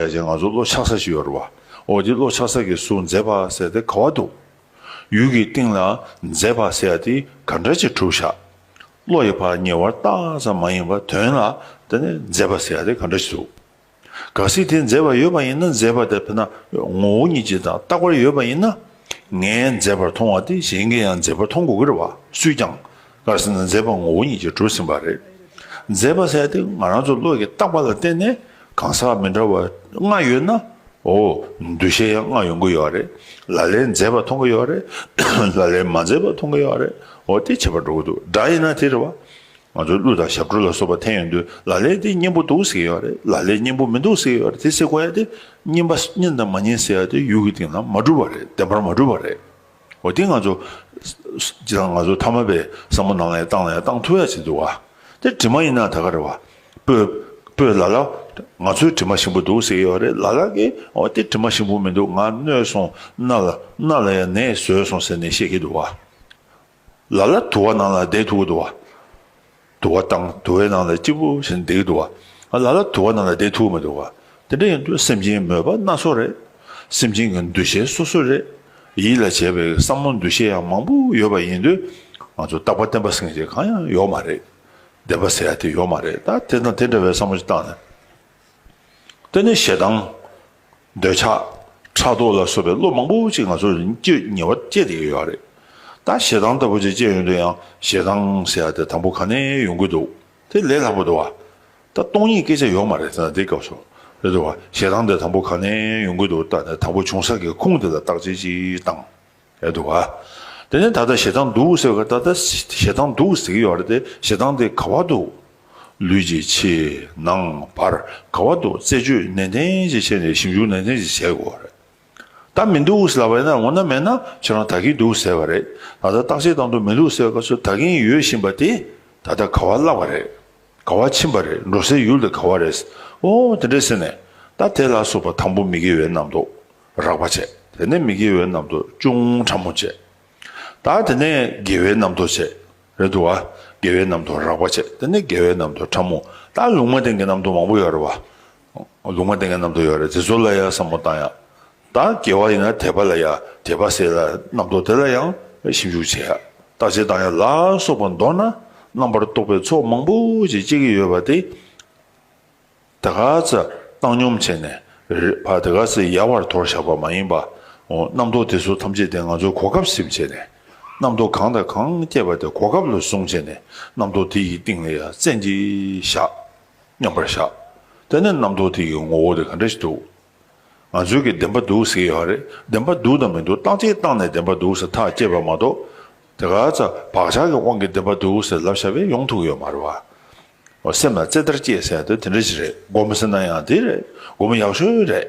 ད་ཆ་ང་ཚོ་བློ་ཆགས་ས་ཞིག་ཡོད་རེད་བ། འོ་དེ་བློ་ཆགས་ས་ཀྱི་སུ་མཛེས་པ་ཟེར་ཏེ་ག་བ་འདུག། ཡུལ་གྱི་སྟེང་ལ་མཛེས་པ་ཟེར་ཡ་དེ་ག་འདྲ་ཅིག་གྲུབ་བཞག། བློ་ཡི་བར་ཉེ་བར་བརྟག་ཙམ་མ་ཡིན་པར་དོན་ལ་ད་ནི་མཛེས་པ་ཟེར་ཡ་དེ་ག་འདྲ་ཅིག་འདུག། གལ་སྲིད་དེ་མཛེས་པ་ཡོད་པ་ཡིན་ན་མཛེས་པ་དེ་ཕེ་ན་ངོ་བོ་ཉིད་ཅིག་དང་རྟག་པར་ཡོད་པ་ཡིན་ན། ངས་མཛེས་པར་མཐོང་བ་དེ་གཞན་གྱིས་ཡང་མཛེས་པར་མཐོང་དགོས་ཀྱི་རེད་བ་སུས་ཀྱང། སྔར་ཟིན་ན་མཛད་པ་ངོ་བོ་ཉིད་ཀྱིས་གྲུབ་ཟིན་པ་རེད། མཛད་པ་ཟད་དེ་ང་རང་ཚོ་བློས་ཀྱི་བཏགས་པ་ལ་བརྟེན་ནས་གང་ཟག་མི་འདྲ་བ་ལྔ་ཡོད་ན། འོ། འདུ་ཤེས་ཡང་ལྔ་ཡོང་གི་ཡོད་རེད། ལ་ལས་མཛད་པ་མཐོང་གི་ཡོད་རེད། ལ་ལས་མ་མཛད་པ་མཐོང་གི་ཡོད་རེད། འོ་དེ་བྱེད་པར་འགྲོ་གི་འདུག་དགྲ་ཡིན་ན་དེ་རེད་བ། ང་ཚོའི་གླུ་དང་ཞབས་བྲོ་ལ་སོགས་པ་འཐེན་ཡོང་དུས་ལ་ལས་དེ་སྙན་པོ་འདུག་ཟེར་གྱི་ཡོད་རེད་ལ་ལས་སྙན་པོ་མི་འདུག་ཟེར་གྱི་ཡོད་རེད་དེ་ཟེར་དགོས་ཡ་དེ། སྙན་པ་སྙན་དང་མ་སྙན་ཟེར་ཡ་དེ་ཡུལ་གྱི་སྟེང་ན་མ་གྲུབ་བ་རེད་བདེན་པར་མ་གྲུབ་བ་རེད། འོ་དེ་ང་ཚོ། སྤྱིར་བཏང་ང་ཚོ་མཐའ་མ་པའི་བསམ་བློ་ནང་ལ་ཡང་བཏང་ལ་ཡང་བཏང་ཐུབ་ཡ་བྱེད་འདུག་ག། དེ་དྲི་མ་ཡིན་ན་ད་ག་རེད་བ། པོས། པོས་ལ་ལ། ང་ཚོའི་དྲི་མ་ཞིམ་པོ་འདུག་ཟེར་གྱི་ཡོད་རེད་ལ་ལ་ཀི། འོ་དེ་དྲི་མ་ཞིམ་པོ་མི་འདུག་ང་གནོད་སོང། སྣ་ལ། སྣ་ལ་ཡང་ནད་བཟོས་སོང་ཟེར་ནས་བཤད་ཀྱི་འདུག་ག། ལ་ལ་དུ་བ་ནང་ལ་བསྡད་ཐུབ་ཀྱི་འདུག་ག། དུ་བ་དང་དུ་བའི་ནང་ལ་སྐྱིད་པོ་ཞིག་འདེགས་འདུག་བ། ལ་ལ་དུ་བ་ནང་ལ་བསྡད་ཐུབ་མི་འདུག་བ། དེ་འདྲ་ཡིན་དུས་སེམས་ཅན་མོས་པ་སྣ་ཚོགས་རེད། སེམས་ཅན་གྱི་འདུ་ཤེས་སོ་སོ་རེད། ཡིད་ལ་བྱེད་པའི་བསམ་བློ་འདུ་ཤེས་ཡང་མང་པོ་ཡོད་པ་ཡིན་དུས། ང་ཚོ་རྟག་པ་བརྟན་པ་སེང་ཆེན་གང་ཡང་ཡོག་མ་རེད། བདེན་པ་ཟེར་ཡག་དེ་ཡོག་མ་རེད་ད་དེ་དང་དེ་འདྲ་བའི་བསམ་བློ་ཅིག་བཏང་ན། ད་ནི་ཞེ་སྡང། འདོད་ཆགས་ཕྲག་དོག་ལ་སོགས་པའི་བློ་མང་པོ་ཅིག་ང་ཚོར་སྐྱེ་ཉེ་བར་སྐྱེས་ཏེ་ཡོད་རེད་ད། ཞེ་སྡང་ལྟ་བུ་ཅིག་སྐྱེས་ཡོད་འདུག་ཡང་ཞེ་སྡང་ཟེར་ཡ་དེ་དང་པོ་ག་ནས་ཡོང་གི་འདུག་དེ་ལས་ལྷག་པ་འདུག་བ། ད་སྟོང་ཉིད་སྐད་ཆ་ཡོད་མ་རེད་ད་འདི་སྐབས་སུ་རེད་འདུག་བ། ཞེ་སྡང་དེ་དང་པོ་ག་ནས་ཡོང་གི་འདུག་ད་ནས་དང་པོ་བྱུང་ས་ཀྱི་ཁུངས་དེ་ལ་བརྟག་དཔྱད་ཅིག་བཏང། ཡོད་འདུག་ག་དེ་ནས་ད་ལྟ་ཞེ་སྡང་འདུག་ཟེར་བ་ད་ལྟ་ཞེ་སྡང་འདུག་ཟེར་གྱི་ཡོད་རེད་དེ་ཞེ་སྡང་དེ་ག་བ་འདུག་ལུས་ཀྱི་ཕྱི་ནང་བར་ག་བ་འདུག་རྩད་གཅོད་ནན་ཏན་གྱིས་བྱས་ནས་ཞིབ་འཇུག་ནན་ཏན་གྱིས་བྱེད་དགོས་རེད་ད་མི་འདུག་ཟེར་ལབ་པ་ཡིན་ན་འོ་ན་མེད་ན་ཁྱེད་རང་ད་གིན་འདུག་ཟེར་བ་རེད་ད་ལྟ་བརྟག་དཔྱད་བཏང་འདུག་མི་འདུག་ཟེར་བ་ཚོ་ད་གིན་ཡོད་བཞིན་པ་དེ་ད་ལྟ་ག་བ་བརླག་པ་རེད་ག་བ་ཕྱིན་པ་རེད་འགྲོ་སའི་ཡུལ་དེ་ག་བ་རེད་ཨོ་དེ་འདྲས་ཟེར་ནས་ད་དེ་ལ་སོགས་པ་དང་པོ་མི་དགེ་བའི་རྣམ་རྟོག་རགས་པ་བྱས། དེ་ནས་མི་དགེ་བའི་རྣམ་རྟོག་ཅུང་ཕྲ་མོ་བྱས། ད་དེ་ནས་དགེ་བའི་རྣམ་རྟོག་བྱས། རེད་འདུག་ག། དགེ་བའི་རྣམ་རྟོག་རགས་པ་བྱས་དེ་ནས་དགེ་བའི་རྣམ་རྟོག་ཕྲ་མོ། ད་ལུང་མ་བསྟན་གྱི་རྣམ་རྟོག་མང་པོ་ཡོད་རེད་བ། ལུང་མ་བསྟན་གྱི་རྣམ་རྟོག་ཡོད་རེད་དེ་ཚོ་ལ་ཡང་བསམ་བློ་བཏང་ཡ། ད་དགེ་བ་ཡིན་ན་དད་པ་ལ་ཡ་དད་པ་སེལ་ལ་རྣམ་རྟོག་དེ་ལ་ཡང་ཞིབ་འཇུག་བྱས་ཡ། བརྟག་དཔྱད་བཏང་ཡ་ལ་སོགས་པ་མདོར་ན་རྣམ་པར་རྟོག་པའི་ཚོགས་མང་པོ་ཞིག་སྐྱེ་གི་ཡོད་པ་དེ། དེ་ག་ཚད་བཏང་སྙོམས་བྱས་ནས་རེད་བ་དེ་ག་ཚད་ཡལ་བར་དོར་བཞག་པ་མ་ཡིན་པ་འོ་རྣམ་རྟོག་དེ་ཚོ་ཐམས་ཅད་དེ་ང་ཚོའི་གོ་སྐབས་སེམས་བྱས་ནས་རྣམ་རྟོག་གང་དང་གང་སྐྱེས་པ་དེ་གོ་སྐབས་ལ་བཟུང་བྱས་ནས་རྣམ་རྟོག་དེ་ཡི་སྟེང་ལ་ཡ་མཚན་གྱིས་བཞག་སྙམ་པར་བཞག་དེ་ནས་རྣམ་རྟོག་དེ་ཡི་ངོ་བོ་དེ་ག་འདྲ་ཞིག་འདུག་ང་ཚོའི་གི་བདེན་པ་འདུག་ཟེར་གི་ཡོད་རེད་བདེན་པ་འདུག་དང་མི་འདུག་བཏང་ཅིག་བཏང་ནས་བདེན་པ་འདུག་ཟེར་ཐག་བཅད་པ་མ་གཏོགས་དེ་ག་ཚད་བག་ཆགས་ཀྱི་དབང་གིས་བདེན་པ་འདུག་ཟེར་ལབ་བཞག་པས་ཡོང་ཐུག་གི་ཡོད་མ་རེད་བ། སེམས་ལ་རྩེད་ལྟར་སྐྱེས་ཟེར་དུས་དེ་འདྲ་ཞིག་རེད་དགོངས་མི་སྲིད་ན་ཡང་དེ་རེད་དགོངས་མི་ཡག་ཤོས་རེད།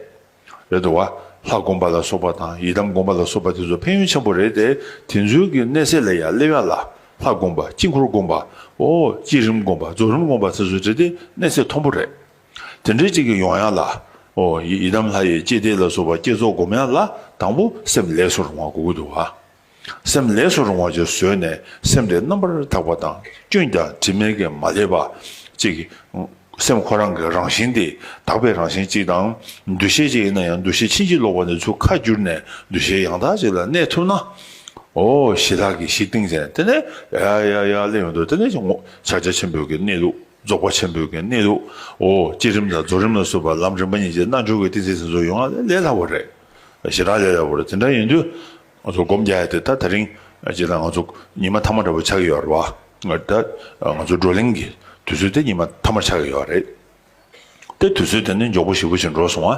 རེད་དོ། ལྷ་དགོངས་པ་ལ་སོགས་པ་དང་ཡི་དམ་དགོངས་པ་ལ་སོགས་པ་དེ་ཚོ་ཕན་ཡོན་ཆེན་པོ་རེད་དེ་དེ་ཚོའི་གི་གནས་ཚད་ལས་ཡང་སླེབས་ཡ་ལ་ལྷ་དགོངས་པ་དཀྱིལ་འཁོར་དགོངས་པ། བསྐྱེད་རིམ་དགོངས་པ་རྫོགས་རིམ་དགོངས་པ་དེ་ཚོ་དེ་དེ་གནས་ཚད་མཐོན་པོ་རེད། དེ་འདྲ་ཅིག་གི་ཡོང་ཡ་ལ། ཡི་དམ་ལྷ་ཡི་བསྐྱེད་བཟླས་ལ་སོགས་པ་བསྐྱེད་རྫོགས་སྒོམ་ཡ་ལ་དང་པོ་སེམས་ལེགས་སོ་རུང་བ་དགོས་གི་འདུག་བ། སེམས་ལས་སུ་རུང་བ་བཅས་བཟོད་ནས་སེམས་དེ་རྣམ་པར་དག་པ་དང་སྐྱོན་ཀྱང་དྲི་མེད་ཀྱི་མ་བསླད་པ། ཅེས་ཀྱི། སེམས་ཁོ་རང་གི་རང་བཞིན་ཏེ་དག་པའི་རང་བཞིན་གཅིག་དང། འདུ་ཤེས་གཅིག་ཡིན་ན་ཡང་འདུ་ཤེས་ཕྱིན་ཅི་ལོག་པ་ནས་ཚུར་ཁ་བསྒྱུར་ནས་འདུ་ཤེས་ཡང་དག་ཅིག་ལ་གནས་ཐུབ་ན། ཨོ་ཞེས་ལྷག་གིས་ཤིག་ཏིང་ཅན་དེ་ནས་ཡ་ཡ་ཡ་ལེ་ཡོད་དོ་དེ་ནས་ཀྱང་ངོ། ཕྱག་རྒྱ་ཆེན་པོའི་གནས་ལུགས། རྫོགས་པ་ཆེན་པོའི་གནས་ནི་དུ་བའོ། བསྐྱེད་རིམ་དང་རྫོགས་རིམ་ལ་སོགས་པ་ལམ་རིམ་པ་གཉིས་ཀྱི་རྣལ་འབྱོར་བའི་ཏིང་འཛིན་སེམས་གསོ་ཡོང་བ་ལས་སླ་བོ་རེད། ཞེ་དྲག་ལས་སླ་བོ་རེད་དེ་འདྲ་ཡིན་དུས། ང་ཚོ་སྒོམ་རྒྱ་ཡ་དེ་ད་ད་རིང་སྤྱིར་བཏང་ང་ཚོ་ཉི་མ་ཐ་མ་འདྲ་བོ་ཆགས་ཀྱི་ཡོད་རེད་བ། ད་ང་ཚོ་བགྲོ་གླེང་གི་དུས་ཚོད་དེ་ཉི་མ་ཐ་མར་ཆགས་ཀྱི་ཡོད་རེད། ཏེ་དུས་ཚོད་དེ་ནི་མགྱོགས་པོ་ཞིག་པོ་ཆེ་འགྲོ་སོང་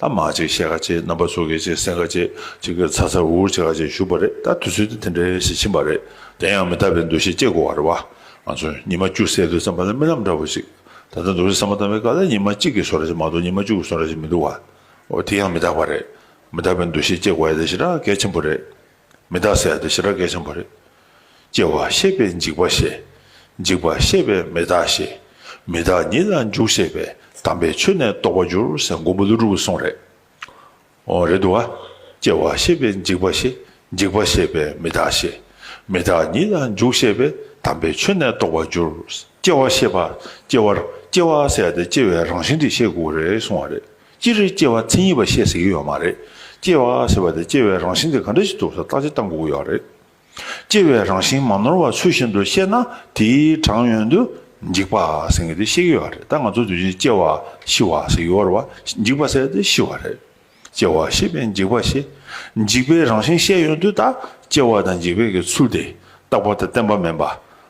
ཨ། མ་གཅིག་ཤེལ་ཁ་ཆེ་རྣམ་པ་ཚོ་གེ་ཆེ་སེང་ཁ་ཆེ་གཅིག་གིས་ཚ་ཚ་འུར་འུར་བྱེད་ཁ་ཆེ་བཞུགས་པ་རེད་ད་དུས་ཚོད་དེ་དེ་འདྲའི་ཞིག་ཕྱིན་པ་རེད་དེ་ཡང་མི་རྟག་པའི་འདུ་ཤེས་སྐྱེ་དགོས་བ་རེད་བ། ང་ཚོ་ཉི་མ་བཅུ་བསད་དུས་བརྩམས་པ་ལ་རྨི་ལམ་འདྲ་བོ་ཅིག་ད་ལྟ་འདུག་སེམས་བསམ་བ་བཏང་བའི་སྐབས་ལ་ཉི་མ་གཅིག་གིས་བཟོ་ར་ཞིག་མ་གཏོགས་ཉི་མ་བཅུ་གིས་བཟོ་ར་ཞིག་མི་འདུག་བ། འོ་དེ་ཡང་མི་རྟག་པ་རེད་མི་རྟག་པའི་འདུ་ཤེས་སྐྱེ་དགོས་བ་ཡིན་ད་ཤི་ར་གལ་ཆེན་པོ་རེད། མི་བདག་ཟད་དོ་ཞེས་ར་གས་ཆེན་པོ་རེད། སྐྱེ་བ་ཤེས་པས་འཇིག་པ་ཤེས། འཇིག་པ་ཤེས་པས་མི་བདག་ཤེས། མི་བདག་ཉིད་ལ་འཇུག་ཤེས་པས་དམ་པའི་ཆོས་ནི་རྟོགས་པར་འགྱུར་ཟེར་མགོན་པོ་ཀླུ་སྒྲུབ་གསུངས་རེད། འོ་རེད་འདུག་ཨ། སྐྱེ་བ་ཤེས་པས་འཇིག་པ་ཤེས། འཇིག་པ་ཤེས་པས་མི་བདག་ཤེས། མི་བདག་ཉིད་ལ་འཇུག་ཤེས་པས་དམ་པའི་ཆོས་ནི་རྟོགས་པར་འགྱུར། སྐྱེ་བ་ཤེས་པ། སྐྱེ་བ། སྐྱེ་བ་ཟད་དེ་སྐྱེ་བའི་རང་བཞིན་དེ་ཤེས་དགོས་རེད་གསུངས་བ་རེད། སྤྱིར་སྐྱེ་བ་མཚན་ཉིད་པ་བཤད་ཟེར་གྱི་ཡོད་མ་རེད། སྐྱེ་བ་ཟེར་བ་དེ་སྐྱེ་བའི་རང་བཞིན་དེ་ག་འདྲ་ཞིག་འདུག་ས་བརྟག་དཔྱད་བཏང་དགོས་ཀྱི་ཡོད་རེད། སྐྱེ་བའི་རང་བཞིན་མ་ནོར་བ་ཚུལ་བཞིན་དུ་བཤད་ན་དེའི་དྲང་ཡོན་དུ་འཇིག་པ་ཟེར་གྱི་དེ་བཤད་ཀྱི་ཡོད་རེད་ད་ང་ཚོ་དུས་ཆེན་སྐྱེ་བ་ཤི་བ་ཟེར་གྱི་ཡོད་རེད་བ་འཇིག་པ་ཟེར་དེ་ཤི་བ་རེད། སྐྱེ་བ་ཤི་བས་འཇིག་པ་ཤི། འཇིག་པའི་རང་བཞིན་བཤད་ཡོན་དུ་ད་སྐྱེ་བ་དང་འཇིག་པའི་གི་ཚུལ་དེ་རྟག་པ་དང་བརྟན་པ་མིན་པ།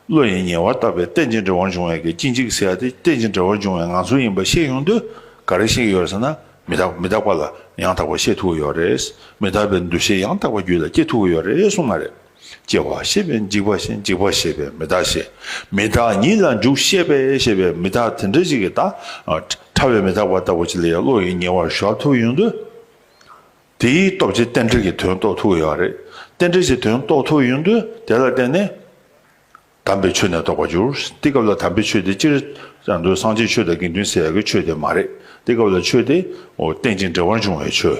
བློ་ཡིས་ཉེ་བར་བརྟགས་པའི་རྟེན་ཅིང་འབྲེལ་བར་འབྱུང་བའི་གཅིག་འཇིག་ཟེར་ཏེ་རྟེན་ཅིང་འབྲེལ་བར་འབྱུང་བའི་ངང་ཚུལ་ཡིན་པ་ཤེས་ཡོང་དུས་ག་རེ་ཞིག་ཡོད་ཟེར་ན། མི་རྟག་མི་རྟག་པ་ལ་ཡང་དག་པར་ཤེས་ཐུབ་ཀྱི་ཡོད་རེད། མི་རྟག་པའི་འདུ་ཤེས་ཡང་དག་པར་རྒྱུད་ལ་སྐྱེ་ཐུབ་ཀྱི་ཡོད་རེད་གསུངས་པ་རེད། སྐྱེ་བ་ཤེས་པས་འཇིག་པ་ཤེས་འཇིག་པ་ཤེས་པས་མི་རྟག་ཤེས། མི་རྟག་ཉིད་ལ་འཇུག་ཤེས་པས་ཤེས་པས་མི་རྟག་དེ་འདྲ་ཞིག་གི་རྟགས། ཕྲ་བའི་མི་རྟག་པ་ལྟ་བུ་ཅིག་ལ་ཡང་བློ་ཡིས་ཉེ་བར་གཞོག་ཐུབ་ཡོང་དུས། དེའི་སྟོབས་ཀྱིས་རྟེན་འབྲེལ་གྱི་དོན་རྟོགས་ཐུབ་ཀྱི་ཡོད་རེད། རྟེན་འབྲེལ་གྱི་དོན་རྟོགས་ཐུབ་ཡོད་དུས་དེ་ལ་བརྟེན་ནས། དམ་པའི་ཆོས་ནི་རྟོགས་པར་འགྱུར། དེ་སྐབས་ལ་དམ་པའི་ཆོས་དེ་ཅིར་ཡང་འདོད་སངས་རྒྱས་ཆོས་དང་དགེ་འདུན་སེལ་ཡག་གི་ཆོས་དེ་མ་རེད། དེ་སྐབས་ལ་ཆོས་དེ། རྟེན་ཅིང་འབྲེལ་བར་འབྱུང་བའི་ཆོས།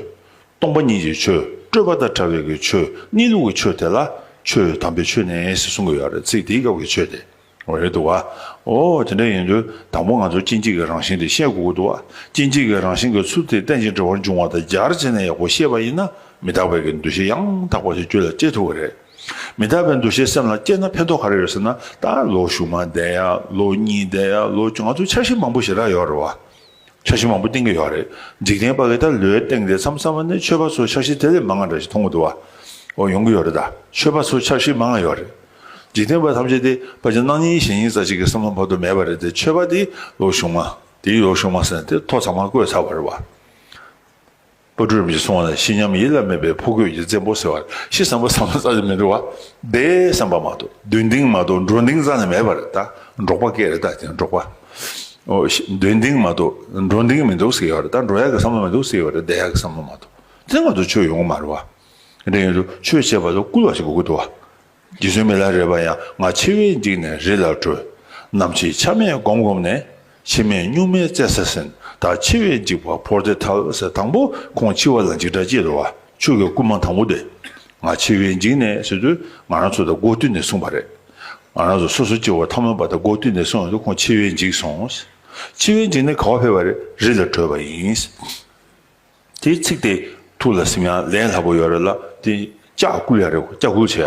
སྟོང་པ་ཉིད་ཀྱི་ཆོས། སྤྲོས་པ་དང་བྲལ་བའི་གྱི་ཆོས། གནས་ལུགས་ཀྱི་ཆོས་དེ་ལ། ཆོས་དམ་པའི་ཆོས་ནི་ཞེས་གསུང་གི་ཡོད་རེད་ཚིག་དེའི་སྐབས་ཀྱི་ཆོས་དེ། འོད་དུ་བ། འོ། དེ་འདྲ་ཡིན་དུས་དང་པོ་ང་ཚོས་སྐྱེ་འཇིག་གི་རང་བཞིན་དེ་ཤེས་དགོས་ཀྱི་འདུག་བ། སྐྱེ་འཇིག་གི་རང་བཞིན་གྱི་ཚུལ་དེ་རྟེན་ཅིང་འབྲེལ་བར་འབྱུང་བ་དང་སྦྱར་བྱས་ནས་ཡག་པོ་ཤེས་པ་ཡིན་ན་མི་རྟག་པའི་གི་འདུ་ཤེས་ཡང་དག་པ་ཞིག་རྒྱུད་ལ་སྐྱེ་ཐུབ་པ་རེད། མི་རྟག་པའི་འདུ་ཤེས་སེམས་ལ་སྐྱེས་ན་ཕན་ཐོགས་ག་རེ་ཡོད་ཟེར་ན་ད་ལོ་གཞུག་མ་བསྡད་ཡ། ལོ་གཉིས་བསྡད་ཡ། ལོ་བཅུ་ང་ཚོས་འཆར་གཞི་མང་པོ་ཞིག་རག་ཡོད་རེད་བ། འཆར་གཞི་མང་པོ་བཏིང་གི་ཡོད་རེད། འཇིག་རྟེན་པ་འི་ད་ལོའི་སྟེང་དེ་མཚམས་སམ་ནི་ཆོས་པ་ཚོ་འཆར་གཞི་དེ་ལས་མང་ང་འདྲ་ཞིག་མཐོང་གི་འདུག་བ། འོ་ཡོང་གི་ཡོད་རེད་ད། ཆོས་པ་ཚོ་འཆར་གཞི་མང་ང་ཡོད་རེད། འཇིག་རྟེན་པ་ཐམས་ཅད་དེ་པ་ཅི་སྣང་གཉིས་ཞེན་གཉིས་རྩ་གཅིག་གི་སེམས་ལྷོང་བར་དུ་མེད་པ་རེད་དེ་ཆོས་པ་དེའི་ལོ་གཞུང་མ། དེའི་ཡོ་གཞུང་མ་ཟེར་ནས་དེ་ཐོག་ཚང་མ་བཀོད་ཚར་བ་རེད་བ། པོ་སྒྲོལ་མ་ཞེས་གསུང་བ་ན་ཤི་སྙམ་ཡིད་ལ་མེད་པའི་ཕོ་རྒོད་ཀྱི་བཙན་པོ་ཟེར་བ་ཤི་བསམ་པ་བསམ་ན་རྩྭ་ཆུ་མི་འདྲི་བ་བདེ་བསམ་པ་མ་གཏོགས་མདུན་ལྡིང་མ་གཏོགས་འགྲོ་འདིང་རྩྭ་ནི་མེད་པ་རེད་ད་འབྲོག་པ་སྐད་རེད་ད་དེ་འབྲོག་པ། མདུན་ལྡིང་མ་གཏོགས་འགྲོ་འདིང་མི་འདུག་ཟེར་བ་རེད་ད་འགྲོ་ཡག་གི་བསམ་བློ་མི་འདུག་ཟེར་བ་རེད་བསྡད་ཡག་གི་བསམ་བློ་མ་གཏོགས་དེ་ནི་ང་ཚོ་ཆོས་ཡོང་གི་མ་རེད་བ། དྲན་ཡོད་དོ་ཆོས་བྱེད་པ་དང་སྐུལ་བ་ཞིག་དགོས་གི་འདུག་བ། རྗེ་བཙུན་མི་ལ་རས་པ་ཡང་ང་མཆེ་བས་འཇིགས་ནས་རི་ལ་བྲོས། ནམ་ཕྱེད་ཆ་མེད་བསྒོམ་བསྒོམ་ནས། ཕྱེ་མས་སྨྱུག་མའི་རྩེ་ས་ཟིན། ད་མཆེ་བས་འཇིགས་པ་ཕོར་ཏེ་ཐབ་ས་དང་པོ་ཁོང་འཆི་བ་ལ་འཇིགས་སྐྲག་ཅེས་ལོ་ཆོས་ཀྱི་སྐུལ་མ་དང་པོ་དེ། ང་མཆེ་བས་འཇིགས་ནས་ཟེར་དུས་ང་རང་ཚོ་ད་སྒོ་བསྟུད་ནས་གསུངས་པ་རེད། ང་རང་ཚོ་སོ་སོ་སྐྱེ་བོ་ཐ་མལ་པ་ད་སྒོ་བསྟུད་ནས་གསུངས་ཡོད་དུས་ཁོང་མཆེ་བས་འཇིགས་སོང། མཆེ་བས་འཇིགས་ནས་ག་བ་ཕེབས་པ་རེད་རི་ལ་བྲོས་པ་ཡིན། དེའི་ཚིག་དེ་ཐུགས་ལ་སིམ་ཡང་ལས་སླ་པོ་ཡོད་རེད་ལ་དེ་ལྕགས་སྐུ་ཡ་རེད་ལྕགས་སྐུ་བྱས་ཡ།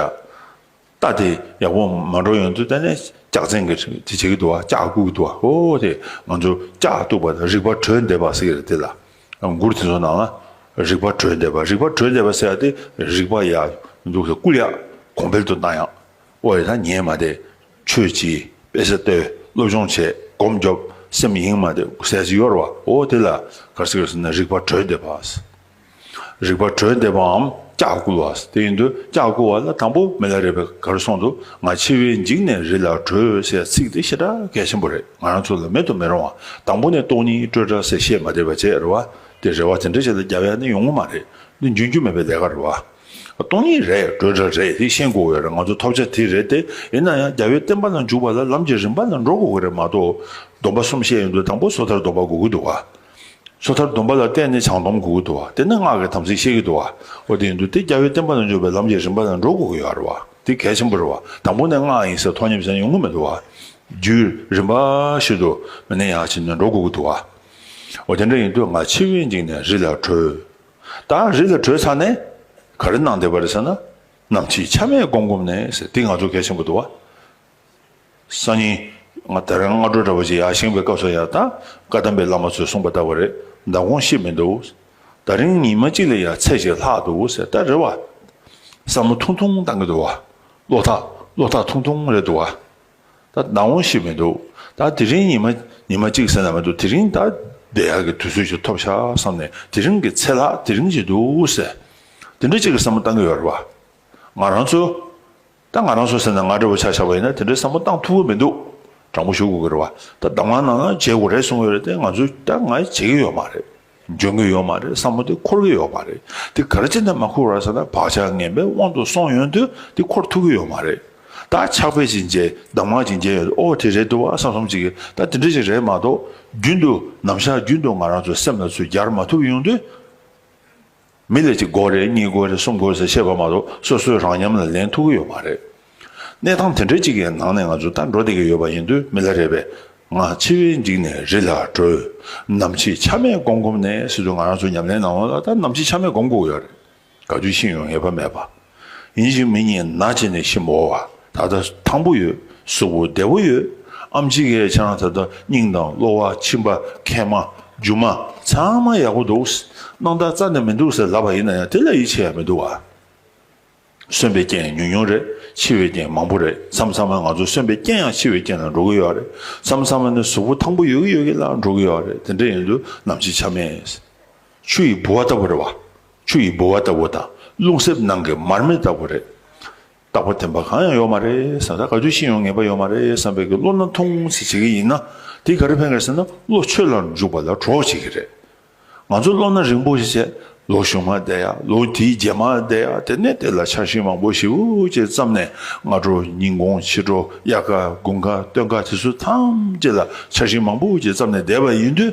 རྟ་དེ་ཡག་པོ་མ་འགྲོ་ཡོང་དུས་ད་ནས་ལྕགས་བཙན་གྱི་དེ་བྱེད་ཀྱི་འདུག་ལྕགས་སྐུ་གི་འདུག་ཨ་ཧོ་དེ་ང་ཚོ་ལྕགས་བཏུག་པ་དང་རིག་པ་གྲོལ་འདེབས་པ་ཟེར་གྱི་རེད་དེ་ལ་མགུར་དེ་ཚོ་ནང་ལ་རིག་པ་གྲོལ་འདེབས་པ་རིག་པ་གྲོལ་འདེབས་པ་ཟེར་ཏེ་རིག་པ་ཡག་འདུག་ཟེར་སྐུ་ཡག་གོང་འཕེལ་དུ་བཏང་ཡག་ཨོ་རེད་ད་ཉན་མ་བསྡད་ཆོས་ཀྱི་དཔེ་ཟེར་ཏེ་སློབ་སྦྱོང་བྱེད་སྒོམ་རྒྱོབ་སེམས་གཡེང་མ་དེ་ཟས་ཀྱི་གཡོར་བ་འོ་དེ་ལ་གར་སིག་ཟེར་ན་རིག་པ་གྲོལ་འདེབས་པ། རིག་པ་གྲོལ་འདེབས་པའམ་སྐྱག་བསྐུལ་བ་དེ་ཡིན་དུས་སྐྱག་བསྐུལ་བ་ལ་དང་པོ་མི་ལ་རས་པའི་གར་སོང་དུ་ང་འཆི་བས་འཇིགས་ནས་རི་ལ་བྲོས་ཟེར་ཚིག་དེ་ཤེས་གྲ་གལ་ཆེན་པོ་རེད་ང་རང་ཚོ་ལ་མེད་དུ་མི་རུང་བ་དང་པོ་ནས་ལྟོགས་གཉིད་སྤྲོས་གྲ་ཟེར་བཤད་མ་བསྡད་པ་བྱས་རེ་བ་དེ་རེ་བ་དེ་འདྲ་བྱས་ལ་རྒྱ་བལ་ནི་ཡོང་ངོ་མ་རེད་འདི་འཇོན་རྒྱུ་མེད་པའི་ལས་ཀ་རེད་བ། སྟོང་ཉིད་རེད་བགྲོད་གྲྭ་རེད་དེ་ཤེས་དགོས་གི་རེད་ང་ཚོ་ཐོབ་བྱ་དེ་རེད་དེ་ཡིན་ན་ཡང་རྒྱ་བོད་བསྟན་པ་ལ་འཇུག་པ་ལ་ལམ་གྱི་རིམ་པ་ལ་འགྲོ་དགོས་གི་རེད་མ་གཏོགས་སྡོམ་པ་གསུམ་བཤད་ཡོང་དུས་དང་པོ་སོ་ཐར་སྡོམ་པ་གོ་གི་འདུག་ག་སོ་ཐར་སྡོམ་པ་ལ་བརྟེན་ནས་བྱང་སྡོམ་གོ་གི་འདུག་ག་དེ་ནས་སྔགས་ཀྱི་དམ་ཚིག་བཤད་གི་འདུག་ག་འོ་དེ་ཡིན་དུས་དེ་རྒྱ་བོད་བསྟན་པ་ལ་འཇུག་པའི་ལམ་གྱི་རིམ་པ་ལ་འགྲོ་དགོས་གི་ཡོད་རེད་བ་དེ་གལ་ཆེན་པོ་རེད་བ་དང་པོ་ནས་སྔགས་ཡིན་ཟེར་ཐོག་ཉམས་ཞན་ཡོང་གི་མི་འདུག་ག་རྒྱུད་རིམ་པ་ཞིག་ཏུ་མི་ནས་ཡང་བྱས་ནས་འགྲོ་དགོས་གི་འདུག་ག་འོ་དེ་འདྲ་ཡིན་དུས་ང་ཕྱི་བས་འཇིགས་ནས་རི་ལ་བྲོས། ད་རི་ལ་བྲོས་ཚར་ནས་ག་རེ་གནང་བསྡད་པ་རེད་ཟེར་ན། ནམ་ཕྱེད་ཆ་མེད་སྒོམ་སྒོམ་ནས་ཟེར་དེ་ང་ཚོ་གལ་ཆེན་པོ་འདུག་བ། སང་ཉིན་ང་ད་རང་སྔ་དྲོ་འདྲ་པར་ཅིག་ཡར་བཞེངས་པའི་སྐབས་སུ་ཡང་ད་བཀའ་གདམས་པའི་བླ་མ་ཚོས་གསུངས་པ་ལྟ་བུ་རེད་མདའ་དགོངས་ཤེས་མི་འདུག་ད་རིང་ཉིན་མ་གཅིག་ལས་ཡར་ཚད་ཅིག་ལྷག་འདུག་ཟེར་ད་རེད་བ། བསམ་བློ་ཐུང་ཐུང་བཏང་གི་འདུག་བ། བློ་ཐག་བློ་ཐག་ཐུང་ཐུང་རེད་འདུག་བ། ད་སྣང་བོ་ཞིག་མི་འདུག་ད་དེ་རིང་ཉི་མ་ཉི་མ་གཅིག་ཟེར་ན་མི་འདུག་དེ་རིང་ད་བསྡད་ཡག་གི་དུས་ཚོད་ཅིག་ཐོབ་ཤག་བསམ་ནས་དེ་རིང་གི་ཚེ་ལྷག་དེ་རིང་བྱེད་འདུག་ཟེར། དེ་འདྲ་གཅིག་གི་བསམ་བློ་བཏང་གི་ཡོད་རེད་བ། ང་རང་ཚོ། ད་ང་རང་ཚོ་ཟེར་ན་ང་འདྲ་བོ་ཆགས་ཆགས་པ་ཡིན་ན་དེ་འདྲའི་བསམ་བློ་བཏང་ཐུབ་ཀི་མི་འདུག་དྲང་པོ་ཞུ་དགོས་ཀི་རེད་བ། ད་གདམ་ངག་ནང་ན་བརྗེད་དགོས་རེད་གསུང་གི་ཡོད་རེད་དེ་ང་ཚོས་ད་ང་བྱེད་ཀི་ཡོད་མ་རེད། འཇོན་གྱི་ཡོད་མ་རེད་བསམ་བློ་དེ་འཁོར་གྱི་ཡོད་པ་རེད་དེ་ག་རེ་བྱས་ནས་མ་འཁོར་བར་ཟེར་ན་བག་ཆགས་ངན་པའི་དབང་དུ་སོང་ཡོང་དུས་དེ་འཁོར་ཐུབ་ཀྱི་ཡོད་མ་རེད་ད་ཆགས་པས་ཅིག་མཇལ་གདམ་ངག་ཅིག་མཇལ་ཡོང་དུས་ཨོ་དེ་རེད་འདུག་བ་བསམ་སོམ་ཅིག་ད་དེ་འདྲ་ཞིག་རེད་མ་གཏོགས་རྒྱུན་དུ་ནམ་ཞག་རྒྱུན་དུ་ང་རང་ཚོའི་སེམས་ལ་ཚུར་གྱར་མ་ཐུབ་ཡོང་དུས། མི་ལ་གཅིག་དགོས་རེད་གཉིས་དགོས་རེད་གསུམ་དགོས་ཟེར་བཤད་པ་མ་གཏོགས་སོ་སོའི་རང་མཉམ་ལ་ལེན་ཐུབ་ཀྱི་ཡོད་མ་རེད། གནས་སྟངས་དེ་འདྲ་གཅིག་གི་ནང་ནས་ང་ཚོ་ད་འགྲོ་བསྡད་ཀྱི་ཡོད་པ་ཡིན་དུས་མི་ལ་རེ་བས་ང་འཆི་བས་འཇིགས་ནས་རི་ལ་བྲོས། ནམ་ཕྱེད་ཆ་མེད་སྒོམ་སྒོམ་ནས་སྲིད་དུ་ང་རང་ཚོ་ཉམས་ལེན་གནང་བ་ལ་ད་ནམ་ཕྱེད་ཆ་མེད་སྒོམ་སྒུག་ཡོད་རེད། ག་དུས་ཤི་ཡོང་ངེས་པ་མེད་པ། ཡིན་ཞིང་མི་ཉིད་ན་བྱེད་ནི་ཤིན་པོ་བ། ད་ལྟ་ཐང་པོ་ཡོད་གཟུགས་པོ་བདེ་བོ་ཡོད། ཨ་མཆིས་ཁའི་ཆང་ད་ལྟ་སྙིང་དང་གློ་བ་མཆིན་པ་མཁལ་མ་རྒྱུ་མ་ཚང་མ་ཡག་པོ་འདུག། སྣང་བརྟག་རྩ་ནས་མི་འདུག་ཟེར་ལབ་པ་ཡིན་ན་ཡང་དེ་ལ་ཡིད་ཆེས་ཡ་མི་འདུག་བ། གསོན་པའི་རྐྱེན་ཉུང་ཉུང་རེད་འཆི་བའི་རྐྱེན་མང་པོ་རེད་མཚམས་མཚམས་མ་ང་ཚོ་གསོན་པའི་རྐྱེན་ཡང་འཆི་བའི་རྐྱེན་ལ་འགྲོ་གི་ཡོད་རེད་མཚམས་མཚམས་མ་ནི་གཟུགས་པོ་ཐང་པོ་ཡོད་གི་ཡོད་གི་ལ་འགྲོ་གི་ཡོད་རེད་དེ་འདྲ་ཡིན་དུས་ནམ་འཆི་ཆ་མེད། ཆུ་ཡི་ལྦུ་བ་ལྟ་བུ་རེད་བ། ཆུ་ཡི་ལྦུ་བ་ལྟ་བུ་དང་རླུང་གསེབ་ནང་གི་མར་མེ་ལྟ་བུ་རེད། རྟག་པ་དེ་འབའ་གང་ཡང་ཡོད་མ་རེད་བསམ། ད་ག་དུས་ཤི་ཡོང་ངེས་པ་ཡོད་མ་རེད་བསམ་བས་ཀྱི་བློ་སྣ་ཐུང་ཚེ་བྱེད་ཀྱི་ཡིན་ན་དེ་ག་རེ་ཕན་དགོས་ཟེར་ན་བློ་ཆོས་ལ་འཇུག་པ་ལ་གྲོགས་བྱེད་ཀྱི་རེད། ང་ཚོ་བློ་སྣ་རིང་པོ་ཞིག་བྱས་ལོ་ཞུགས་མ་བསྡད་ཡ་ལོ་དེའི་རྗེས་མ་བསྡད་ཡ་དེ་ནས་དེ་ལ་འཆར་གཞི་མང་པོ་ཞིབ་ཅེས་བརྩམས་ནས་སྔ་དྲོ་ཉིན་གུང་ཕྱི་དྲོ་དབྱར་ཁ་དགུན་ཁ་སྟོན་ཁ་དེ་ཚོ་ཐམས་ཅད་ལ་འཆར་གཞི་མང་པོ་ཞིག་བརྩམས་ནས་བསྡད་པ་ཡིན་དུས་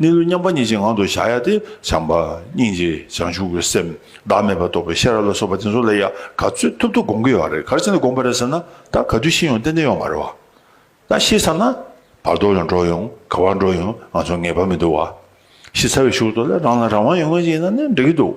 གནས་ལུགས་མཉམ་པ་ཉིད་ཅན་ངང་དུ་བཞག་ཡ་སྟེ་བྱམས་པ། སྙིང་རྗེ། བྱང་ཆུབ་ཀྱི་སེམས། བདག་མེད་པར་རྟོགས་པའི་ཤེས་རབ་ལ་སོགས་པ་དེ་ཚོ་ལ་ཡང་ག་ཚོད་ཐུབ་ཐུབ་དགོངས་ཀྱི་ཡོད་རེད་ག་རེ་ཅན་དུ་དགོངས་པ་རེད་ཟེར་ན་ད་ག་དུས་ཤེས་ཡོང་ཏན་ཏན་ཡོང་མ་རེད་བ། ད་ཤེས་ཚར་ན་བར་དོར་ཡང་འགྲོ་ཡོང་ག་བར་འགྲོ་ཡོང་ང་ཚོར་ངེས་པ་མི་འདུག་བ། ཤེས་ཚར་བའི་ཤུགས་ཏུ་ལ་རང་ལ་རང་དབང་ཡོད་མཁན་ཞིག་ཡིན་ན་ནི་འགྲིག་གི་འདུག་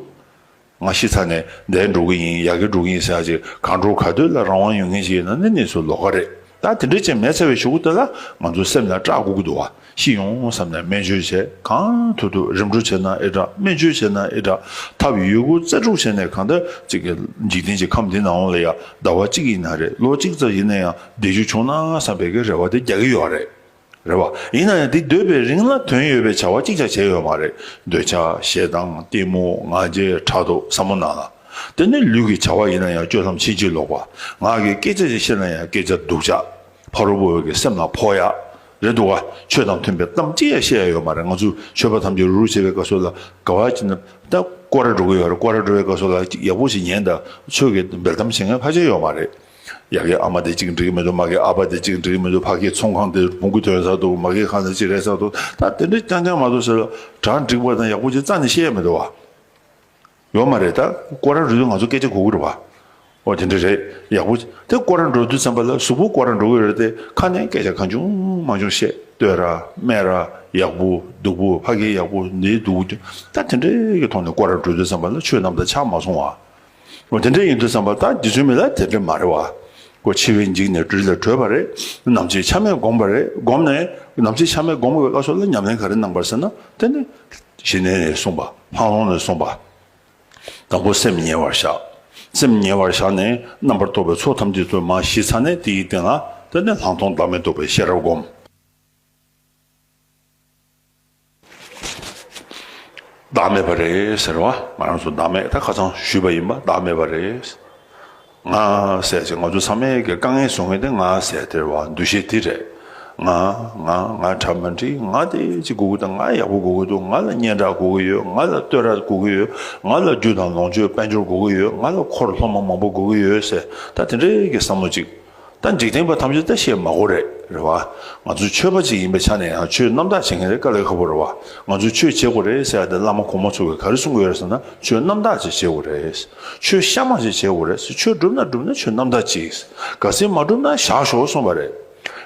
ང་གཞི་ཚ་ནས་འདས་འགྲོ་གི་ཡིན་ཡག་གི་འགྲོ་གི་ཡིན་ཟེར་ཡག་ཅིག་གང་འགྲོ་ག་དུས་ལ་རང་དབང་ཡོད་མཁན་ཞིག་ཡིན་ན་ནི་གནས་ཚུལ་ལོག་ཀ་རེད་ད་དེ་འདྲའི་ཆེ་མེད་ཚ་བའི་ཞུ་གུ་དེ་ལ་ང་ཚོ་སེམས་ལ་སྐྲག་གུ་གུ་འདུག་བ་ཤི་ཡོང་བསམ་ནས་སྨན་བཅོས་བྱས་གང་ཐུབ་ཐུབ་རིམ་གྲོ་བྱས་ན་ཨེ་དྲག་སྨན་བཅོས་བྱས་ན་ཨེ་དྲག་ཐབས་ཡོད་རྒུ་རྩལ་སྤྲུག་བྱས་ནས་གང་ལྟར་ཅིག་གིས་འཇིག་རྟེན་གྱི་ཁམས་འདི་ན་འོང་ལ་ཡ་ཟླ་བ་གཅིག་ཡིན་ན་རེད་ལོ་གཅིག་ཙམ་ཡིན་ན་ཡང་བསྡད་རྒྱུ་བྱུང་ན་བསམ་པའི་གི་རེ་བ་དེ་རྒྱག་གི་ཡོད་རེད། རེད་བ། ཡིན་ན་ཡང་འདི་སྡོད་པའི་རིང་ལ་དོན་ཡོད་པའི་བྱ་བ་གཅིག་ཅག་བྱས་ཡོད་མ་རེད། འདོད་ཆགས་ཞེ་སྡང་གཏི་མུག་ང་རྒྱལ་ཕྲག་དོག་ཟབ་མོ་སྣང་ལ། དེ་ནི་ལུས་ཀྱི་བྱ་བ་ཡིན་ན་ཡང་སྤྱོད་ལམ་ཕྱིན་ཅི་ལོག་པ། ངག་གི་སྐད་ཆ་ཅིག་བཤད་ན་ཡང་སྐད་ཆ་སྡུག་ཅག། ཕ་རོལ་པོ་འོད་ཀྱི་སེམས་ལ་ཕོག་ཡག། རེད་འདུག་ག། ཆོས་དང་མཐུན་པའི་གཏམ་གཅིག་ཡང་བཤད་ཡ་ཡོད་མ་རེད་ང་ཚོས་ཆོས་པ་ཐམས་ཅད་རུ་རུ་བྱེད་པའི་བཀའ་སྲོལ་ལ་དགའ་བ་ཅི་འདྲ། ད་ཀོ་ར་འགྲོ་གི་ཡོད་རེད་ཀོ་ར་འགྲོ་བའི་བཀའ་སྲོལ་ལ་ཅིག་ཡག་པོ་ཞིག་ཉན་ད། ཆོས་ཀྱི་འབེལ་གཏམ་བྱེད་མཁན་ཧ་ཅང་ཡོད་མ་རེད། ཡ་གི་ཨ་མ་དེ་གཅིག་འགྲིག་གི་མི་འདུག་མ་གི་ཨ་ཕ་དེ་གཅིག་འགྲིག་གི་མི་འདུག་ཕ་གི་ཚོང་ཁང་དེ་བོང་གུ་ཐོན་ས་འདུག་མ་གི་ཁང་དེ་ཅི་རེད་ས་འདུག་ད་དེ་འདྲ་རྐྱང་རྐྱང་མ་གཏོགས་ཟེར་གྲ་འགྲིག་པ་དང་ཡག་པོ་ཅིག་རྩ་ནས་བཤད་ཡ་མི་འདུག་བ། ཡོད་མ་རེད་ད་སྐོར་ར་རུལ་དུས་ང་ཚོ་སྐད་ཆ་གོ་གི་རེད་བ། ཨོ་དེ་འདྲ་རེད་ཡག་པོ། དེ་སྐོར་ར་འགྲོ་དུས་ཚན་པ་ལ་གཟུགས་པོ་སྐོར་ར་འགྲོ་གི་རེད་དེ་ཁ་ནས་སྐད་ཆ་གང་བྱུང་མང་བྱུང་བཤད་ལྟོས་ར་སྨད་ར་ཡག་པོ་སྡུག་པོ་ཕ་གི་ཡག་པོ་འདི་སྡུག་ད་དེ་འདྲ་གི་ཐོག་ནས་སྐོར་ར་འགྲོ་དུས་ཚན་པ་ལ་ཆོས་རྣམས་དང་ཆ་མ་མཚུངས་བ། འོ་དེ་འདྲ་ཡིན་འདུག་བསམ་པ་ལྟར་རྗེ་བཙུན་མི་ལ་དེ་འདྲ་མ་རེད་བ། ཀོ་འཆི་བས་འཇིགས་ནས་སྦྲུལ་ལ་བྲོས་པ་རེད། ནམ་ཚེ་ཆ་མེད་བསྒོམས་པ་རེད་བསྒོམས་ནས། ནམ་ཚེ་ཆ་མེད་བསྒོམས་བའི་བློ་ཚོར་ལ་ཉམས་ལེན་ག་རེ་གནང་བར་ཟེར་ན་དེ་ནི། ཞེས་ནན་ནས་གསུངས་པ། ལྷང་ལྷོང་ནས་གསུངས་པ། དང་པོ་སེམས་ཉེ་བར་བཞག། སེམས་ཉེ་བར་བཞག་ནས་རྣམ་པར་རྟོག་པའི་ཚོགས་ཐམས་ཅད་ཚུར་མ་ཞི་ཚར་ནས་དེ་ཡི་སྟེང་ལ་དེ་ནི་ལྷག་མཐོང་བདག་མེད་རྟོགས་པའི་ཤེས་རབ་བསྒོམ། བདག་མེད་པ་རེད་ཟེར་བ་ང་རང་ཚོ་བདག་མེད་ད་ཁ་ཚང་ཞུས་པ་ཡིན་པ་བདག་མེད་པ་རེད། ང་ཟེར་ཅིག་ང་ཚོ་ཚང་མའི་དཀའ་ངལ་བཟོ་མཁན་དེ་ང་ཟེར་དེར་བ་འདུ་ཤེས་དེ་རེད། ང་ང་ང་གྲ་མ་འགྲིག་ང་དེ་ཅིག་དགོས་ཀྱི་འདུག་ང་ཡག་པོ་དགོས་ཀྱི་འདུག་ང་ལ་སྙན་གྲགས་དགོས་ཀྱི་ཡོད་ང་ལ་བསྟོད་ར་དགོས་ཀྱི་ཡོད་ང་ལ་རྒྱུ་དང་ལོངས་སྤྱོད་དཔལ་འབྱོར་དགོས་ཀྱི་ཡོད་ང་ལ་འཁོར་ལྷོ་མ་མང་པོ་དགོས་ཀྱི་ཡོད་ཟེར་ད་དེ་འདྲའི་གི་བསམ་བློ་ཅིག་ད་འཇིག་རྟེན་པ་ཐམས་ཅད་ད་བཤད་མ་གོ་རེད་རེད་བ། ང་ཚོ་ཆོས་པ་ཅིག་ཡིན་པའི་ཆ་ནས་ཡང་ཆོས་རྣམ་དག་བྱེད་མཁན་རེད་ཀ་ལེ་ཁ་པོ་རེད་བ། ང་ཚོ་ཆོས་བྱེད་དགོ་རེད་ཟེར་ཡ་དེ་བླ་མ་གོང་མ་ཚོ་གིས་ག་རེ་གསུང་གི་ཡོད་རེད་ཟེར་ན་ཆོས་རྣམ་དག་ཅིག་བྱེད་དགོ་རེད། ཆོས་གཤའ་མ་ཞིག་བྱེད་དགོ་རེད་ཆོས་བསྒྲུབ་ན་བསྒྲུབ་ན་ཆོས་རྣམ་དག་ཅིག་ག་སེ་མ་བསྒྲུབ་ན་བཞག་ཞོག་གསུངས་པ་རེད།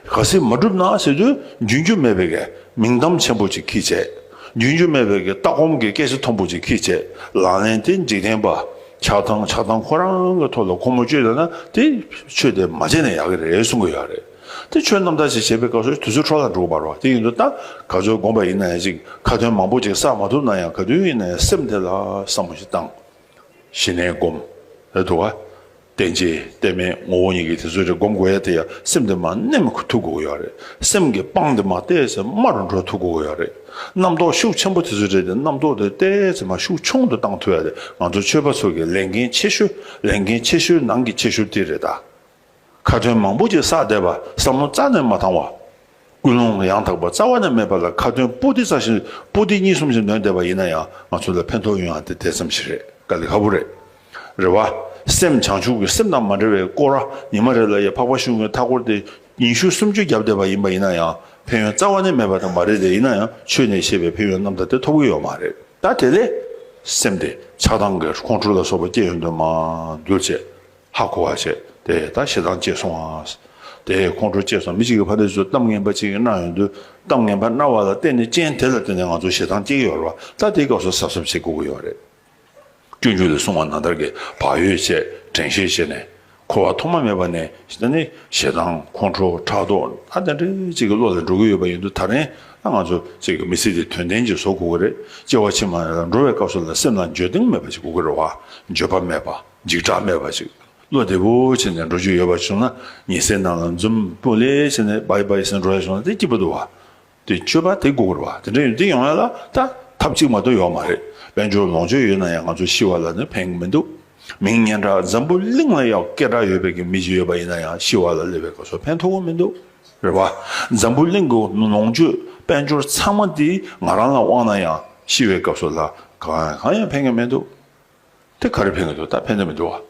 ག་སེ་མ་བསྒྲུབ་ན་ཟེར་དུས་རྒྱུན་རྒྱུ་མེད་པའི་གེ་མིང་གཏམ་ཆེན་པོ་ཅིག་གིས་བྱས། རྒྱུན་རྒྱུ་མེད་པའི་གེ་ལྟ་སྒོམ་གི་སྐད་ཆ་མཐོན་པོ་ཅིག་གིས་བྱས་ལ་ལན་དེ་འཇིག་རྟེན་པ་ཆགས་སྡང་ཆགས་སྡང་ཁོ་རང་གི་ཐོག་ལ་ཁོ་མོ་སྤྱོད་ལ་ན་དེ་ཆོས་དེ་མ་བྱས་ན་ཡག་གི་རེད་གསུང་གི་ཡོད་རེད་དེ་ཆོས་རྣམ་དག་ཅིག་བྱེད་པའི་སྐབས་སུ་དུས་ཚོད་འཕྲོ་བརླག་འགྲོ་གི་མ་རོག་དེ་ཡིན་དུ་ད་ག་ཚོད་དགོངས་པ་ཡིན་ན་ཡང་ཅིག་ཁ་དོན་མང་པོ་ཅིག་བསགས་མ་ཐུབ་ན་ཡང་ག་དུས་ཡིན་ན་ཡང་སེམས་དེ་ལ་བསམ་བློ་ཞིག་བཏང། ཞི་གནས་སྒོམ། རེད་འདུག་ག། བསྟན་བྱའི་བསྟན་མའི་ངོ་བོ་གཉིས་ཀྱི་དེ་ཚོ་རེ་སྒོམ་དགོས་ཡ་དེ་ཡང་སེམས་དེ་མ་གནས་མ་ཐུབ་དགོས་གི་ཡོད་རེད་སེམས་ཀྱི་དཔང་དེ་མ་བལྟས་ཚེ་དམའ་རུ་འགྲོ་ཐུབ་དགོས་གི་ཡོད་རེད། རྣམ་རྟོག་ཤུགས་ཆེན་པོ་དེ་ཚོ་བྲལ་ཏེ་རྣམ་རྟོག་དེ་བལྟས་ཚེ་མ་ཤུགས་ཆུང་དུ་བཏང་ཐུབ་ཡ་རེད་ང་ཚོ་ཆོས་པ་ཚོ་གི་ལས་འགན་ཆེ་ཤོས་ལས་འགན་ཆེ་ཤོས་ནང་གི་ཆེ་ཤོས་དེ་རེད་ད། ཁ་དོན་མང་པོ་ཅིག་བསགས་བསྡད་པ་བསམ་བློ་རྩ་ནས་མ་བཏང་བ། ཀུན་སློང་ཡང་དག་པ་རྩ་བ་ནས་མེད་པ་ལ་ཁ་དོན་པོ་ཏི་རྩ་ཞིང་པོ་ཏི་གཉིས་གསུམ་ཞིག་འདོན་བསྡད་པ་ཡིན་ན་ཡང་ང་ཚོ་ལ་ཕན་ཐོག་ཡོད་ཡང་དེ་དེ་ཙམ་ཞིག་རེད་དཀའ་ལས་ཁ་པོ་རེད། རེ་བ། སེམས་བྱང་ཆུབ་ཀྱི་སེམས་དང་མ་འབྲེལ་བའི་སྐོར་ཨ་ཉི་མ་རེ་ལ་ཡ་འཕགས་པ་གཞུང་གི་མཐའ་སྐོར་དེ་ཉིན་ཞུགས་སུམ་ཅུ་བརྒྱབ་བསྡད་པ་ཡིན་པ་ཡིན་ན་ཡང་ཕན་ཡོན་རྩ་བ་ནས་མེད་པ་དང་མ་རེད་དེ་ཡིན་ན་ཡང་ཆོས་ནས་བཤད་པའི་ཕན་ཡོན་རྣམས་ད་ལྟའི་ཐོབ་གི་ཡོད་མ་རེད་ད་དེ་ལས་སེམས་ཏེ་ཆགས་སྡང་གི་ཁོང་ཁྲོ་ལ་སོགས་པ་སྐྱེ་ཡོང་དོན་མ་གྱུར་ཚེ་ཧ་གོ་བ་བྱས་ཏེ་ད་ཞེ་སྡང་སྐྱེས་སོང་ཨང་དེ་ཁོང་ཁྲོ་སྐྱེས་སོང་མི་གཅིག་གི་ཕ་འདས་ཚོས་གཏམ་ངན་པ་གཅིག་གིས་གནང་ཡོང་དུས་གཏམ་ངན་པ་གནང་བ་ལ་བརྟེན་ནས་རྐྱེན་དེ་ལ་བརྟེན་ནས་ང་ཚོ་ཞེ་སྡང་སྐྱེ་གི་ཡོད་རེད་པ་ད་དེའི་སྐབས་སུ་གཟབ་གཟབ་བྱེད་དགོས་ཀྱི་ཡོད་རེད། སྐྱོན་བརྗོད་ལས་བསྲུང་བ་ན་བདག་གི་བག་ཡོད་ཅེས་དྲན་ཤེས་བྱས་ནས། འཁོར་བ་ཐོག་མ་མེད་པ་ནས་ད་ནི་ཞེ་སྡང་ཁོང་ཁྲོ་ཕྲག་དོག་ད་དེ་འདྲའི་ཅིག་གི་བློ་ལ་འགྲོ་གི་ཡོད་པ་ཡིན་དུས་ད་རན་ད་ང་ཚོ་ཅིག་གི་མི་ཚེ་འདི་དོན་ལྡན་ཅིག་བཟོ་དགོས་ཀྱི་རེད་སྐྱེ་བ་ཕྱི་མ་ལ་འགྲོ་བའི་སྐབས་སུ་ལ་སེམས་ལ་འགྱོད་གདེང་མེད་པ་ཅིག་དགོས་ཀྱི་རེད་བ་འགྱོད་པ་མེད་པ་འཇིགས་སྐྲག་མེད་པ་ཅིག་བློ་བདེ་པོ་བྱས་ནས་འགྲོ་རྒྱུ་ཡོད་པ་བྱུང་ན་ཉི་ཟེར་ནང་ལ་འཛུམ་པོ་ལེ་བྱས་ནས་བ་ཡི་བ་ཡི་ཟེར་འགྲོ་ཡ་བྱུང་ན་དེ་སྐྱིད་པོ་འདུག་བ། དེ་སྤྱོད་པ་དེ་དགོས་པར་བ་དེ་འདྲ་ཡོད་དེ་ཡོང་ཡ་ལ་ད་ཐབས་གཅིག་མ་གཏོགས་ཡོད་མ་རེད་དཔལ་འབྱོར་ལོངས་སྤྱོད་ཡོད་ན་ཡང་ང་ཚོ་ཤི་བ་ལ་ནི་ཕན་གི་མི་འདུག་མིང་སྙན་གྲགས་འཛམ་བུ་གླིང་ལ་ཡང་སྐད་གྲགས་ཡོད་པའི་གི་མི་ཞིག་ཡོད་པ་ཡིན་ན་ཡང་ཤི་བ་ལ་ལས་པའི་ག་ཚོད་ཕན་ཐོག་གི་མི་འདུག་རེད་བ་འཛམ་བུ་གླིང་གི་ལོངས་སྤྱོད་དཔལ་འབྱོར་ཚང་མ་དེ་ང་རང་ལ་དབང་ན་ཡང་ཤི་བའི་སྐབས་སུ་ལ་གང་ཡང་གང་ཡང་ཕན་གི་མི་འདུག། དེ་ག་རེ་ཕན་གི་འདུག་ད་ཕན་ཐོགས་མི་འདུག་ཨ།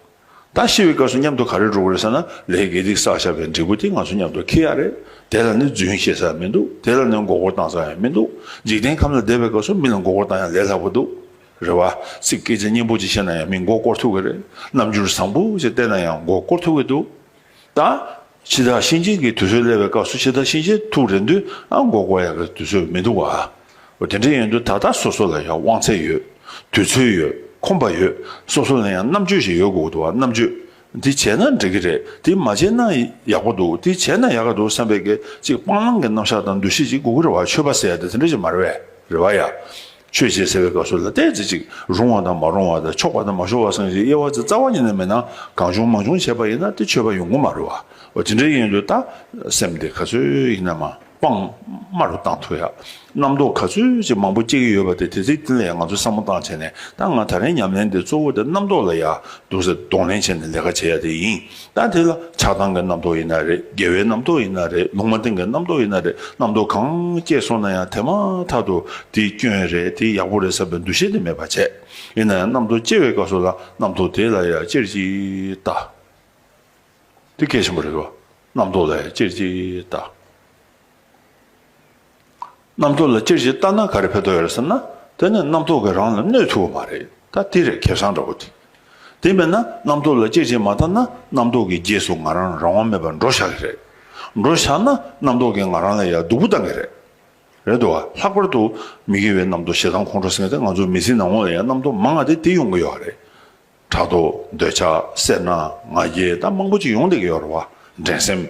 ད་ཤི་བའི་སྐབས་སུ་མཉམ་དུ་ག་རེ་འགྲོ་གི་རེད་ཟེར་ན་ལས་དགེ་སྡིག་བསགས་བཞག་པའི་འབྲས་བུ་དེ་ང་ཚོ་མཉམ་དུ་འཁེལ་ཡ་རེད་དེ་ལ་ནི་རྫུན་བཤད་ས་ཡང་མི་འདུག་དེ་ལ་ནི་མགོ་སྐོར་བཏང་ས་ཡང་མི་འདུག་འཇིག་རྟེན་ཁམས་ལ་བསྡད་པའི་སྐབས་སུ་མི་ལ་མགོ་སྐོར་བཏང་ཡང་ལས་སླ་པོ་འདུག་རེད་བ། ཚིག་སྐད་ཆ་སྙན་པོ་གཅིག་བཤད་ན་ཡང་མི་མགོ་སྐོར་ཐུབ་གི་རེད་རྣམ་འགྱུར་བཟང་པོ་ཞིག་བསྟན་ན་ཡང་མགོ་སྐོར་ཐུབ་གི་འདུག། དང། ཕྱི་ཟླ་གཤིན་རྗེན་གྱི་དུས་ཚོད་སླེབས་པའི་སྐབས་སུ་ཕྱི་ཟླ་གཤིན་རྗེན་ཐུག་རེ་འདུན་ཨང་འགོག་པ་ཡང་གི་དུས་ཚོད་མི་འདུག་བ། འོ་དེ་འདྲ་ཡིན་དུས་ད་ལྟ་སོ་སོ་ལ་ཡང་དབང་ཚད་ཡོད། དུས་ཚོད་ཡོད། ཁོམ་པ་ཡོད། སོ་སོ་ལ་ཡང་རྣམ་དཔྱོད་ཞིག་ཡོད་དགོས་འདུག་བ་རྣམ་དཔྱོད། དེ་བྱས་ན་འགྲིག་གི་རེད་དེ་མ་བྱས་ན་ཡག་པོ་འདུག་དེ་བྱས་ན་ཡག་གི་འདུག་བསམ་པའི་གེགས་གཅིག་སྤང་བླང་གི་རྣམ་གཞག་དང་འདུ་ཤེས་ཅིག་གུ་གུ་རེ་བ་ཆོས་པ་ཟེར་ཡ་དེ་དེ་འདྲ་ཞིག་མ་རེད་བས་རེ་བ་ཡ། ཆོས་བྱེད་ཟེར་བའི་སྐབས་སུ་ལ་ལྟས་རྩེ་གཅིག་རུང་བ་དང་མ་རུང་བ་དང་ཆོག་པ་དང་མ་ཆོག་བ་སངས་རྒྱས་དབྱེ་བ་ཚེ་རྩ་བ་ཉིད་ན་མེད་ན་གང་བྱུང་མ་བྱུང་བྱས་པ་ཡིན་ན་དེ་ཆོས་པ་ཡོང་གི་མ་རེད་བ། དེ་འདྲའི་ཡིན་དུས་ད་སེམས་དེ་ག་ཚོད་ཡིན་ན་མ་སྤང་དམའ་རུ་བཏང་ཐུབ་ཡ། རྣམ་རྟོག་ག་ཚོད་ཅིག་མང་པོ་སྐྱེ་གི་ཡོད་པ་དེ་དེ་ཚིག་དེ་ལས་ང་ཚོ་བསམ་བློ་བཏང་བྱས་ནས་ད་ང་ད་རེས་ཉམས་ལེན་དེ་གཙོ་བོ་དེ་རྣམ་རྟོག་ལ་ཡ་གདུག་སེལ་གདོང་ལེན་བྱས་ནས་ལས་ཀ་བྱེད་ཡ་དེ་ཡིན། ད་དེ་ལ་ཆགས་སྡང་གི་རྣམ་རྟོག་ཡིན་ན་རེད་དགེ་བའི་རྣམ་རྟོག་ཡིན་ན་རེད་ལུང་མ་བསྟན་གྱི་རྣམ་རྟོག་ཡིན་ན་རེད་རྣམ་རྟོག་གང་སྐྱེས་སོང་ན་ཡང་དེ་མ་ཐག་ཏུ་དེ་སྐྱོན་རེད་དེ་ཡག་པོ་རེད་བསམ་པའི་འདུ་ཤེས་དེ་མེད་པར་བྱས། ཡིན་ན་ཡང་རྣམ་རྟོག་སྐྱེ་བའི་སྐབས་སུ་ལ་རྣམ་རྟོག་དེ་ལ་ཡང་ཅེར་གྱིས་ལྟ། དེ་གལ་ཆེན་པོ་རེད་བ། རྣམ་རྟོག་ལ་ཡང་ཅེར་གྱིས་ལྟ། རྣམ་རྟོག་ལ་སྤྱིར་ཇི་ལྟར་ན་ག་རེ་ཕན་ཐོགས་ཡོད་རེད་ཟེར་ན། དེ་ནི་རྣམ་རྟོག་གིས་རང་ལ་གནོད་ཐུབ་བོ་མ་རེད་ད་དེ་རེད་ཁེ་བཟང་འདྲ་བོ་དེ། དེ་མེད་ན་རྣམ་རྟོག་ལ་སྤྱིར་ཇི་མ་ལྟར་ན་རྣམ་རྟོག་གི་རྗེས་སུ་ང་རང་རང་དབང་མེད་པར་འགྲོ་བཞག་གི་རེད། འགྲོ་བཞག་ན་རྣམ་རྟོག་གིས་ང་རང་ལ་ཡར་སྡུག་པོ་བཏང་གི་རེད། རེད་དོ། ལྷག་པར་དུ་མི་དགེ་བའི་རྣམ་རྟོག་ཞེ་སྡང་ཁོང་ཁྲོ་སེང་སྟེ་ང་ཚོ་མི་ཚེའི་ནང་ངོ་ལ་ཡང་རྣམ་རྟོག་མང་ང་སྟེ་དེ་ཡོང་གི་ཡོད་རེད། ཕྲག་དོག། འདོད་ཆགས། སེར་སྣ། ང་རྒྱལ་ད་མང་པོ་ཅིག་ཡོང་བསྡད་ཀྱི་ཡོད་རེད་བ། འགྲན་སེམས།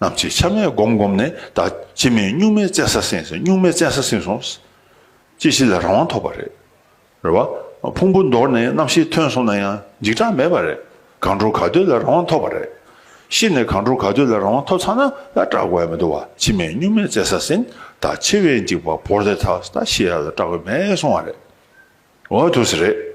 རྣམས་ཀྱིས་ཆ་མེད་བསྒོམས་བསྒོམས་ནས་ད་ཅི་མིན་སྨྱུག་མའི་བཙན་ས་ཟིན་ཟིན་སྨྱུག་མའི་བཙན་ས་ཟིན་སོང། ཅི་ཞིག་ལ་རང་དབང་ཐོབ་པ་རེད། རེད་བ། ཕུང་པོ་འདོར་ནས་རྣམ་ཤེས་ཐོན་སོང་ན་ཡང་འཇིགས་སྐྲག་མེད་པ་རེད། གང་འགྲོ་ག་འདོད་ལ་རང་དབང་ཐོབ་པ་རེད། ཤི་ནས་གང་འགྲོ་ག་འདོད་ལ་རང་དབང་ཐོབ་ཚར་ན་ཡང་སྐྲག་དགོས་མི་འདུག་བ་ཅི་མིན་སྨྱུག་མའི་བཙན་ས་ཟིན་ད་ཆེ་བའི་འཇིགས་པ་བོར་ཏེ་ད་ཤི་ཡ་ལ་སྐྲག་གི་མེད་སོང་བ་རེད། འོ་དུས་རེད།